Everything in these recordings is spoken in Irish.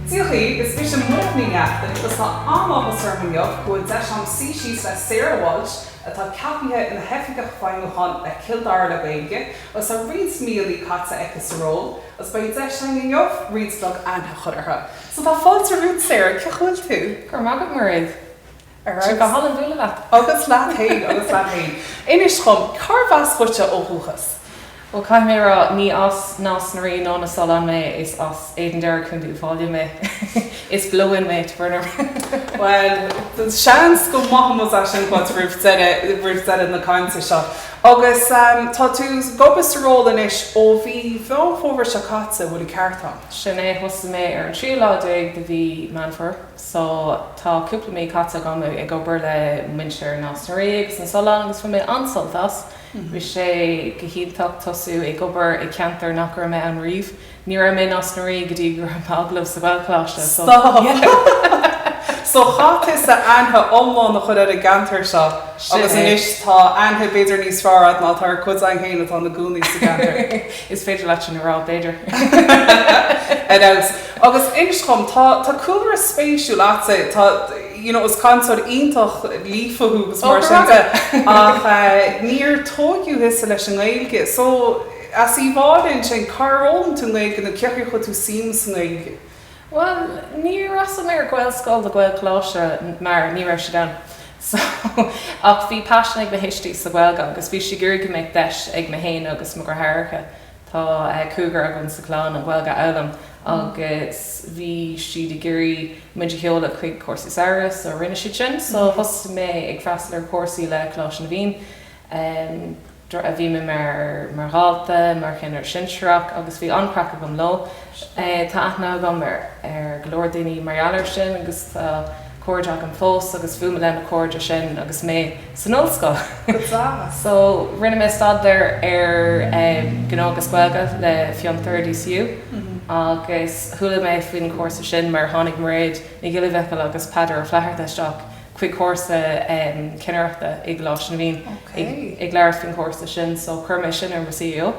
Dia dhaoibh, is mise Muireann Ní Neachtain agus tá an-áthas orm inniu go bhfuil deis agam suí síos le Sarah Walsh, atá ceapaithe ina hOifigeach Feidhmiúcháin le Cill Dara le Gaeilge agus tá roinnt míonna caite aici sa ról agus beidh deis againn inniu roinnt beag aithne a chur uirthi. So tá fáilte romhat Sarah, cén chaoi a bhfuil tú? Go raibh maith agat Mairéad. Ar aghaidh. Go hálainn bualadh leat. Agus leat fhéin, agus leat fhéin. Inis dhom, cárbh as dhuitse ó dhúchas? Bhuel, caithfidh mé a rá, ní as Nás na Rí ná na Sollán mé, is as Éadan Doire, Contae Uíbh Fhailí mé. Is blow-in mé to Byrna Ring. Bhuel, seans go maithfimid é sin dhuit roimh deireadh, roimh deireadh na cainte seo. Agus tá tú ag obair sa ról anois ó mhí Mheán Fómhair seo caite, an bhfuil an ceart agam? Sin é, thosaigh mé ar an tríú lá déag de mhí Meán Fómhair so tá cúpla mí caite agam ag obair le muintir Nás na Rí agus na Sollán agus bhain mé an-sult as. Bhí sé go hiontach tosú ag obair i gceantar nach raibh mé ann riamh. Ní raibh mé i Nás na Rí go dtí go raibh m'agallamh sa Ghaelcholáiste so, yeah! So chaith tú aithne iomlán a chur ar an gceantar seo agus anois tá aithne b'fhéidir níos fearr agat ná tá ag cuid againn féin atá ina gcónaí sa gceantar. Is féidir leat sin a rá, b'fhéidir. Ar fheabhas. Agus inis dhom, tá cúlra spéisiúil agatsa, tá, you know, is cainteoir iontach líofa thú agus mar sin de, ach níor tógadh thusa leis an nGaeilge. So, más amhlaidh sin, cár fhoghlaim tú an Ghaeilge nó cén chaoi ar chuir tú suim sa nGaeilge? Bhuel, ní rabhas ar Ghaelscoil ná Gaelcholáiste mar ní raibh siad ann. So, ach bhí paisean ag mo thuistí sa Ghaeilge agus bhí siad ag iarraidh go mbeadh deis ag mé féin agus mo dheartháireacha, tá cúigear againn sa gclann, an Ghaeilge a fhoghlaim agus bhí siad ag iarraidh muid a sheoladh chuig cúrsaí samhraidh so rinne siad sin. So, thosaigh mé ag freastal ar chúrsaí le Coláiste na bhFiann. a bhí mé mar dhalta, mar cheannaire sinsearach agus bhí an-craic agam leo. Tá aithne agam ar go leor daoine mar gheall air sin agus tá cairde agam fós agus bhuail mé leis na cairde sin agus mé san ollscoil. Go deas! So, rinne mé staidéar ar Ghnó agus Gaeilge le Fiontar, DCU, agus chuala mé faoin chúrsa sin mar tháinig Mairéad Nic Giolla Mhichíl agus Peadar Ó Flatharta isteach chuig cúrsa cinnireachta i gColáiste na bhFiann ag labhairt faoin chúrsa sin so chuir mé sin ar mo cv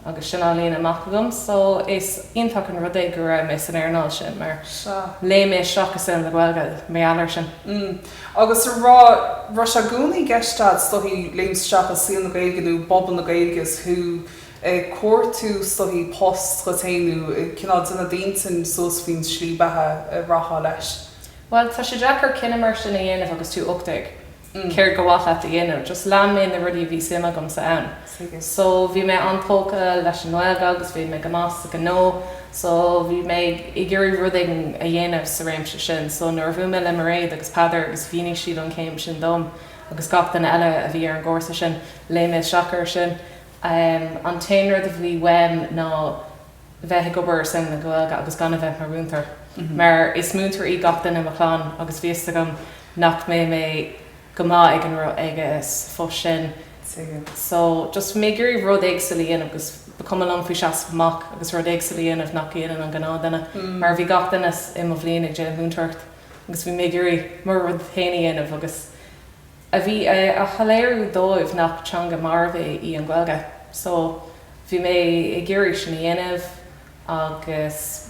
agus sin á líonadh amach agam so is iontach an rud é go raibh mé san earnáil sin mar léim mé isteach i saol na Gaeilge mar gheall air sin. Mm agus a rá, raibh sé i gcónaí i gceist agat is dtigh léim isteach i saol na Gaeilge nó i bpobal na Gaeilge is thú ag cuartú is dtigh, post, dhuit fhéin nó cineál déanamh d'intinn suas faoin slí beatha a rachfá leis? Bhuel, tá sé deacair cinneadh mar sin a dhéanamh agus tú ocht déag. mm céard ba mhaith leat a dhéanamh? Just lean mé na rudaí a bhí suim agamsa ann. So, bhí mé an-tógtha leis an nGaeilge agus bhí mé go maith ag gnó. So, bhí mé ag iarraidh rud éigin a dhéanamh sa réimse sin. So, nuair a bhuail mé le Mairéad agus Peadar agus mhínigh siad an chéim sin dom agus gach duine eile a bhí ar an gcúrsa sin, léim mé isteach air sin. An t-aon rud a bhí uaim ná. bheith ag obair ar son na Gaeilge agus gan a bheith mar mhúinteoir, mar is múinteoir í gach duine i mo chlann agus bhí 'fhios agam nach mbeadh mé go maith ag an ag an phost sin so just bhí mé ag iarraidh rud éagsúil a dhéanamh agus ba cuma liom faoi seasamh amach agus rud éagsúil a dhéanamh nach ndéanann an gnáthdhuine mar bhí gach duine i mo bhliain ag déanamh múinteoireacht agus bhí mé ag iarraidh mo rud féin a dhéanamh agus a bheith ag soiléiriú dóibh nach teanga mharbh í an Ghaeilge. So, bhí mé ag iarraidh sin a dhéanamh agus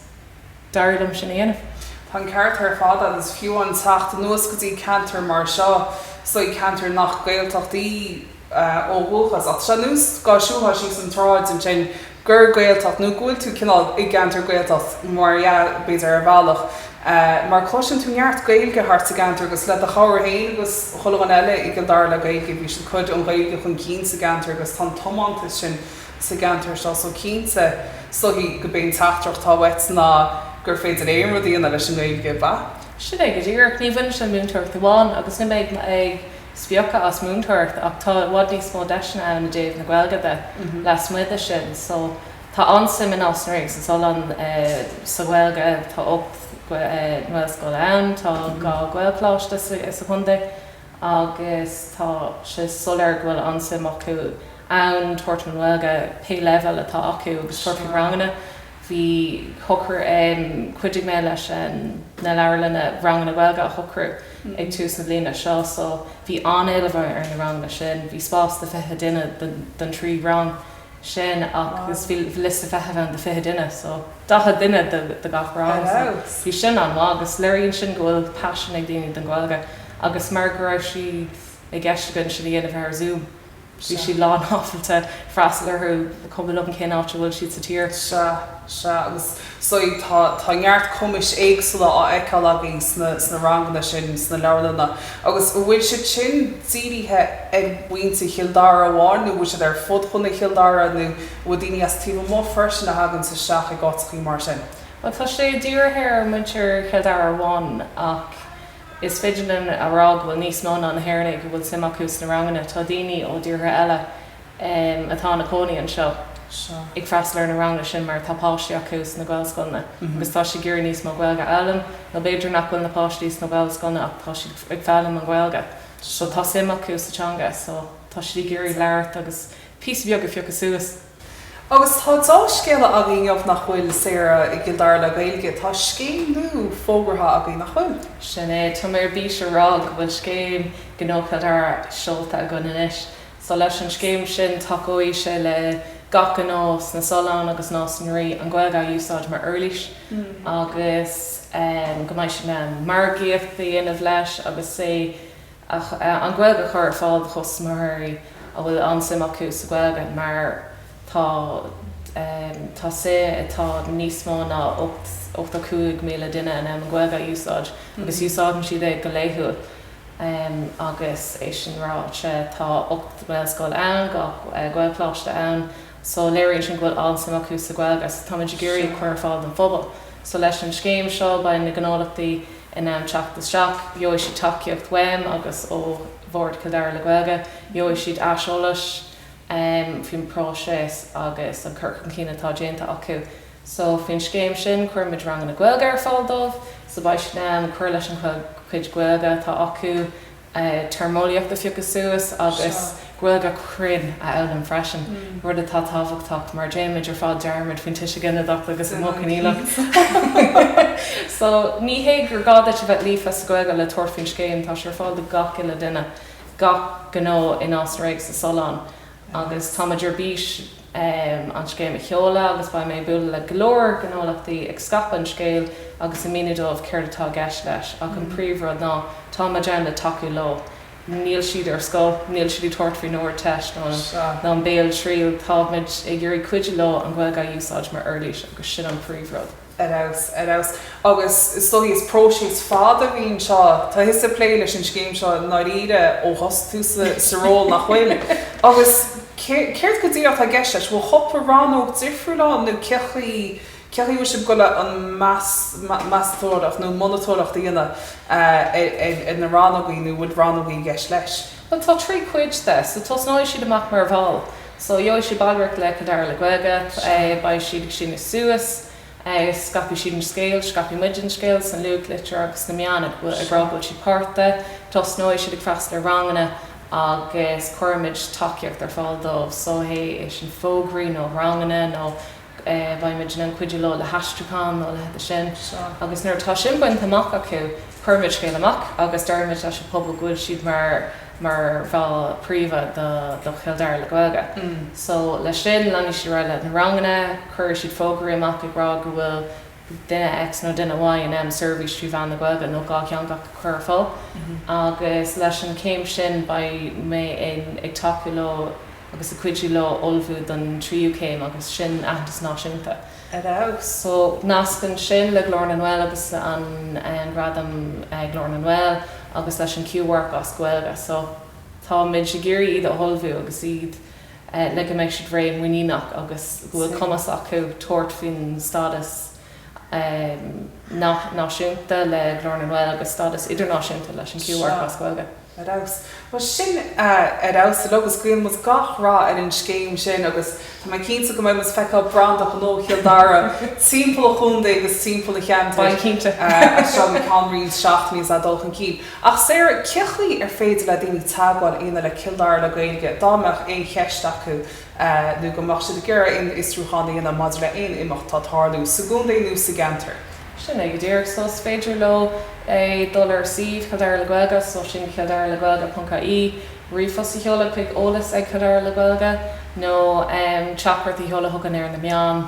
d'éirigh liom sin a dhéanamh. Tá an ceart ar fad agat. Is fiú an teacht anuas go dtí ceantar mar seo, so ceantar nach Gaeltacht é ó dhúchas, ach is ea anois dá siúlfá síos an tsráid ansin, gur Gaeltacht, nó go bhfuil tú cineál i gceantar Gaeltachta, mar a déarfá, b'fhéidir, ar bhealach, mar cloiseann tú neart Gaeilge thart sa gceantar agus le do chabhair féin agus chuile dhuine eile i Cill Dara le Gaeilge, bíonn siad ag cur an Ghaeilge chun cinn sa gceantar agus tá an tiomantas sin sa gceantar seo so cinnte, is dóigh gurb é an teachtaireacht atá uait ná gur féidir aon rud a dhéanamh leis an nGaeilge, ab ea? Sin é go díreach. Ní bhaineann sé le múinteoireacht amháin agus ní bheidh mé ag. spochadh as múinteoireacht ach tá i bhfad níos mó deiseanna ann i dtaobh na Gaeilge de lasmuigh de sin so tá an-suim i Nás na Ríogh sna Solláin sa Ghaeilge, tá ocht nGaelscoil ann, tá dhá Ghaelcholáiste sa chontae agus tá sé soiléir go bhfuil an-suim acu ann tabhairt faoin nGaeilge, pé leibhéal atá acu agus tabhairt faoi ranganna. a shocrú ann. Chuidigh mé leis na leabharlanna ranganna Gaeilge a shocrú ag tús na bliana seo so bhí an-éileamh ar na ranganna sin. Bhí spás do 20 duine don trí rang sin agus bhí liosta feithimh ann do 20 duine so 40 duine do gach rang so bhí sin an-mhaith agus léiríonn sin go bhfuil paisean ag daoine don Ghaeilge agus mar go raibh sé i gceist againn sin a dhéanamh ar Zoom. Tá siad lánábalta freastal orthu, is cuma liom cén áit a bhfuil siad sa tír. Sea, sea. Agus so tá neart cumais éagsúla á fheiceáil againn sna ranganna sin sna leabharlanna. Agus an bhfuil siad sin dírithe ar mhuintir Chill Dara amháin nó an bhfuil siad ar fud chontae Chill Dara nó an bhfuil daoine as taobh amuigh freisin a thaganns isteach ag ócáideachaí mar sin? Bhuel, tá sé dírithe ar mhuintir Chill Dara amháin ach. Is féidir linn a rá go bhfuil níos mó ná na hÉireannaigh go bhfuil suim acu sna ranganna, tá daoine ó thíortha eile atá ina gcónaí anseo ag freastal ar na ranganna sin mar tá páistí acu sna Gaelscoileanna agus tá siad ag iarraidh níos mó Gaeilge a fhoghlaim nó b'fhéidir nach bhfuil na páistí sna Gaelscoileanna ach tá siad ag foghlaim an Ghaeilge so tá suim acu sa teanga so tá siad ag iarraidh labhairt agus píosa beag a phiocadh suas. Agus tá deá-scéala againn inniu, nach bhfuil, Sarah, i gCill Dara le Gaeilge, tá scéim nua fógraithe againn, nach bhfuil? Sin é. Tá mé ar bís a rá go bhfuil scéim Ghnó Chill Dara seolta againn anois. So, leis an scéim sin, tacóidh sé le gach gnó sna Solláin agus Nás na Rí an Ghaeilge a úsáid mar uirlís agus, em, go mbeidh siad in ann margaíocht a dhéanamh leis agus sé, ach an Ghaeilge a chur ar fáil do chustaiméirí a bhfuil an-suim acu sa Ghaeilge mar tá tá tá níos mó ná ocht ochtó cúig míle duine in ann an Ghaeilge a úsáid agus úsáideann siad é go laethúil agus é sin ráite tá ocht nGaelscoil ann, dhá Ghaelcholáiste ann So léiríonn sin go bhfuil an-suim acu sa Ghaeilge agus táimid ag iarraidh a chur ar fáil don phobal. So leis an scéim seo beidh na gnólachtaí in ann teacht isteach, gheobhaidh siad tacaíocht uaim agus ó Bhord Chill Dara le Gaeilge, gheobhaidh siad aiseolas faoin bpróiseas agus an cur chun cinn atá déanta acu. So faoin scéim sin cuirimid ranganna Gaeilge ar fáil dóibh so beidh siad in ann cur leis an gcu chuid Gaeilge atá acu, téarmeolaíocht a phiocadh suas agus Gaeilge chruinn a fhoghlaim freisin, rud atá tábhachtach mar déanaimid ar fad dearmad faoin tuiseal ginideach agus an modh coinníollach. So, ní hé gur gá duit a bheith líofa sa Ghaeilge le tabhairt faoin scéim, tá sé ar fáil do gach uile duine, gach gnó i Nás na Rí, sna Solláin agus táimid ar bís, an scéim a sheoladh agus beidh mé ag bualadh le go leor gnólachtaí ag scaipeadh an scéil agus ag míniú dóibh céard atá i gceist leis ach an príomhrud ná tá muid ann le tacú leo. Níl siad ar scoil, níl siad ag tabhairt faoin Ardteist ná an bhéaltriail, tá muid ag iarraidh cuidiú leo an Ghaeilge a úsáid mar uirlís agus sin an príomhrud. ar fheabhas, ar fheabhas. Agus is dóigh, is próiseas fada a bhíonn anseo. Tá tusa ag plé leis an scéim seo i ndáiríre ó thosaigh tú sa ról, nach bhfuil? Agus céard go díreach atá i gceist leis? Bhfuil cúpla rannóg difriúil ann nó cé chaoi, cé chaoi a bhfuil sibh ag goil an meas, meastóireacht nó monatóireacht a dhéanamh ar, ar, ar na rannógaí nó bhfuil rannógaí i gceist leis? Tá trí chuid de. So tosnóidh siad amach mar bhall. So gheobhaidh siad ballraíocht le Cill Dara le Gaeilge. Beidh siad ag síneadh suas. Scaipfidh siad an scéal. Scaipfidh muid an scéal sa nuachtlitir agus sna meáin ag rá go bhfuil siad páirteach. Tosnóidh siad ag freastal ar ranganna agus cuirfimid tacaíocht ar fáil dóibh. So é sin fógraí nó ranganna nó. Bheadh muid in ann cuidiú leo le haistriúchán nó leithéidí sin. Agus nuair atá sin bainte amach acu, cuireann muid scéal amach agus deir muid leis an phobal go bhfuil siad mar mar bhall gníomhach do do Chill Dara le Gaeilge. So leis sin, leanfaidh siad ar aghaidh le na ranganna, cuirfidh siad fógraí amach ag rá go bhfuil duine X nó duine Y in ann seirbhís trí mheán na Gaeilge nó dhátheangach a chur ar fáil agus leis an chéim sin beidh muid ag tacú leo agus ag cuidiú leo ullmhú don tríú céim agus sin aitheantas náisiúnta a fháil. So nascann sin le Glór na nGael agus an gradam Glór na nGael agus leis an Q-Mharc as Gaeilge. So tá muid ag iarraidh iad a ullmhú agus iad le go mbeidh siad réidh, muiníneach agus go bhfuil cumas acu tabhairt faoin stádas náisiúnta le Glór na nGael agus stádas idirnáisiúnta leis an Q-Mharc as Gaeilge. Ar fheabhas. Bhuel, sin ar fheabhas uilig agus guíonn muid gach rath ar an scéim sin agus tá mé cinnte go mbeidh muid ag feiceáil branda Ghnó Chill Dara timpeall an chontae agus timpeall an cheantair as seo go ceann roinnt seachtainí is é ag dul chun cinn. Ach saoire cé chaoi ar féidir le daoine teagmháil a dhéanamh le Cill Dara le Gaeilge dá mbeadh aon cheist acu nó go mbeadh siad ag iarraidh aon fhiosrúchán a dhéanamh maidir le haon imeacht atá ag tarlú sa gcontae nó sa gceantar? Sin é go díreach. So is féidir leo dul ar ár suíomh, Cill Dara le Gaeilge, so sin cilldaralegaeilge.ie, ríomhphost a sheoladh chuig, eolas ag Cill Dara le Gaeilge, nó teachtaireacht a sheoladh chugainn ar na meáin.